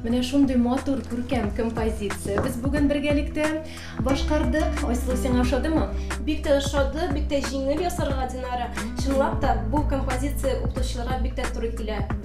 Менә шундый матур, күркәм композиция. Без бүген бергәлектә башкардык. Айсылу, сиңа ошадымы? Бик тә ошады, бик тә җиңел ясарга, Динара. Чынлап та, бу композиция укытучыларга бик тә туры килә.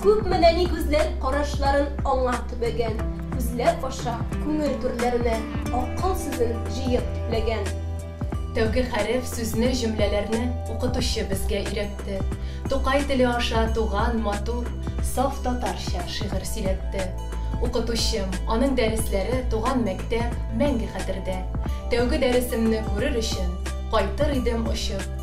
Күпме нәни күзләр карашларын аңа төбәгән, Күзләп аша күңел түрләренә акыл сүзен җыеп төпләгән. Тәүге хәреф, сүзне, җөмләләрне Укытучы безгә өйрәтте. Тукай теле аша туган, матур, Саф татарча шигырь сөйләтте. Укытучым, аның дәресләре Туган мәктәп, мәңге хәтердә. Тәүге дәресемне күрер өчен, Кайтыр идем очып,